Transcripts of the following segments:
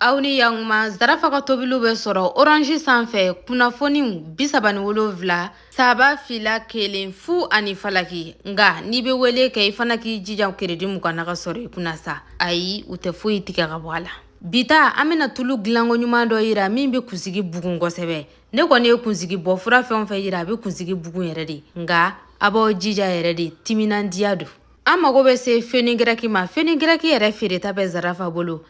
aw ni yankuma zarafa ka tobiliw bɛ sɔrɔ oranzi sanfɛ kunnafoniw bisaba ni wolonfila saba fila kelen fu ani falaki nka n'i bɛ wele kɛ i fana k'i jija keredi mugan na ka sɔrɔ i kunna sa ayi u tɛ foyi tigɛ ka bɔ a la bi ta an bɛna tulu dilanko ɲuman dɔ yira min bɛ kunsigi bugun kosɛbɛ ne kɔni ye kunsigi bɔ fura fɛn o fɛn yira a bɛ kunsigi bugun yɛrɛ de nka a b'aw jija yɛrɛ de timinandiya don an mago bɛ se fenigirɛki ma fenigirɛki yɛrɛ feereta bɛ zarafa bolo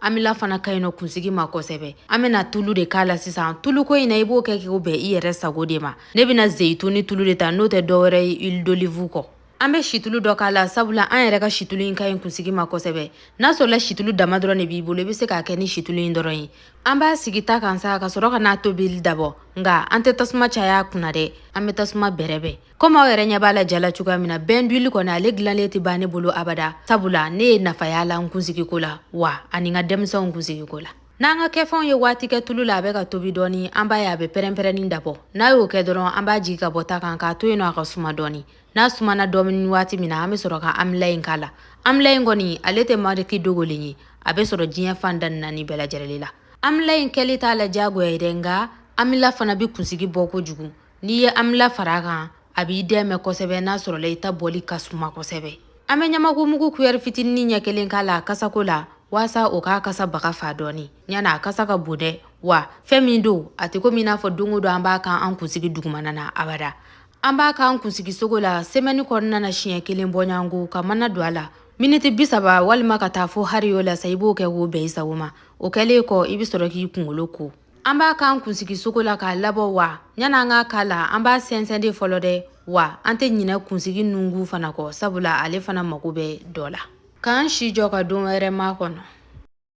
amila fana ka ɲi nɔ kunsigi ma kosɛbɛ an bɛna tulu de k'a la sisan tuluko in na i b'o kɛ k'o bɛn i yɛrɛ sago de ma ne bɛna zeyituni tulu de ta n'o tɛ dɔwɛrɛ ye huile d'olive kɔ an bɛ situlu dɔ k'a la sabula an yɛrɛ ka situlu in ka ɲi kunsigi ma kosɛbɛ n'a sɔrɔla situlu dama dɔrɔn de b'i bolo i bɛ se k'a kɛ ni situlu in dɔrɔn ye an b'a sigi ta kan sa ka sɔrɔ ka n'a tobili dabɔ nka an tɛ tasuma caya kunna dɛ an bɛ tasuma bɛrɛbɛn komi aw yɛrɛ ɲɛ b'a la ja la cogoya min na bain d'huile kɔni ale dilanlen tɛ ban ne bolo abada sabula ne ye nafa y'a la n kunsigi ko la wa ani n ka denmisɛnw kunsigi ko la n'an ka kɛfɛnw ye waati kɛ tulu la a bɛ ka tobi dɔɔni an b'a ye a bɛ pɛrɛnpɛrɛnni dabɔ n'a y'o kɛ dɔrɔn an b'a jigi ka bɔ ta kan k'a to yen nɔ a ka suma dɔɔni n'a sumana dɔɔni waati min na an bɛ sɔrɔ ka amila in k'a la amila in kɔni ale tɛ mariki dogolen ye a bɛ sɔrɔ diɲɛ fan da naani bɛɛ lajɛlen la amila in kɛli t'a la diyagoya ye dɛ nka amila fana bɛ kunsigi bɔ kojugu N'i ye amila fara a kan a b'i dɛmɛ kosɛbɛ n'a sɔrɔla i ta bɔli ka suma kosɛbɛ an bɛ ɲamakumugu kuyɛri fitinin ɲɛ kelen k'a la kasako la walasa o k'a kasa baga fa dɔɔni ɲani a kasa ka bon dɛ wa fɛn min don a tɛ komi n'a fɔ don o don an b'a kɛ an kunsigi dugumana na abada an b'a k'an kunsigisogo la semɛni kɔnɔna na siɲɛ kelen bɔɲɔgɔnko ka mana don a la miniti bisaba walima ka taa fo hariyo la sa i b'o kɛ k'o bɛn i sago ma o kɛlen kɔ i bɛ sɔrɔ k'i kunkolo ko an b'a k'an kunsigi sogo la k'a labɔ wa yan'an k'a k'a la an b'a sɛnsɛn de fɔlɔ dɛ wa an tɛ ɲinɛ kunsigi nunkun fana kɔ sabula ale fana mago bɛ dɔ la k'an si jɔ ka don wɛrɛ makɔnɔ